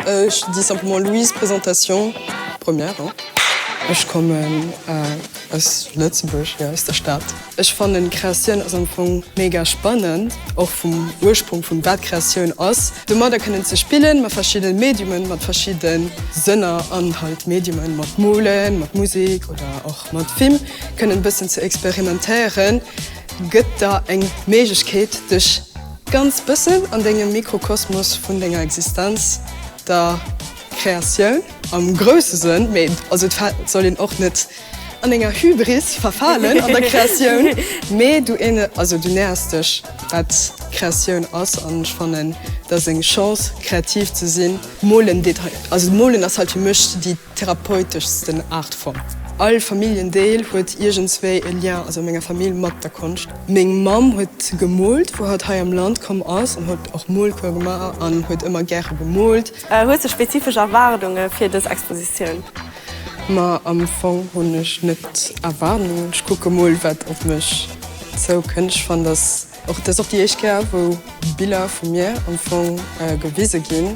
Ech dis simplement Louise présentation première hein. Ech kommen aus Lëtzebuerg jo aus der Stad. Ech fannen Kreatioun ass am Fong mega spannend och vum Ursprung vun wat Kreatioun ass domadder kënnen ze spillen mat verschidden Mediumen mat verschidden Sënner an halt Mediumen mat molen mat Musik oder och mat Film kënnen bëssen ze experimentéieren gëtt der eng Méiglechkeet dech ganz bëssen an dengem Mikrokosmos vun denger Existenz, der Kreatioun am grousse Sënn, mee also et soll een och net an enger Hybris verfalen an der Kreatioun, mee du also du nähers dech wat Kreatioun ass an ech fannen et ass eng Chance kreativ ze sinn. Molen, also molen ass halt fir mech déi. therapeuteschsten Artform. All Familljendeel huet iergendswéi e Lien, also a menger Famill, mat der Konscht. Meng Mamm huet gemoolt, wou hatt hei am Land komm ass, an huet och Moolcours gemaach an huet ëmmer gäre gemoolt. Hues de spezifesch Erwaardunge fir dës Expositioun? Ma am Fong hunn ech net Erwaardungen. Ech kucke mol, wat op mech zoukënnt. Ech fannen, dass och, dat ass och déi éischt Kéier, wou Biller vu mir am Fong gewise ginn.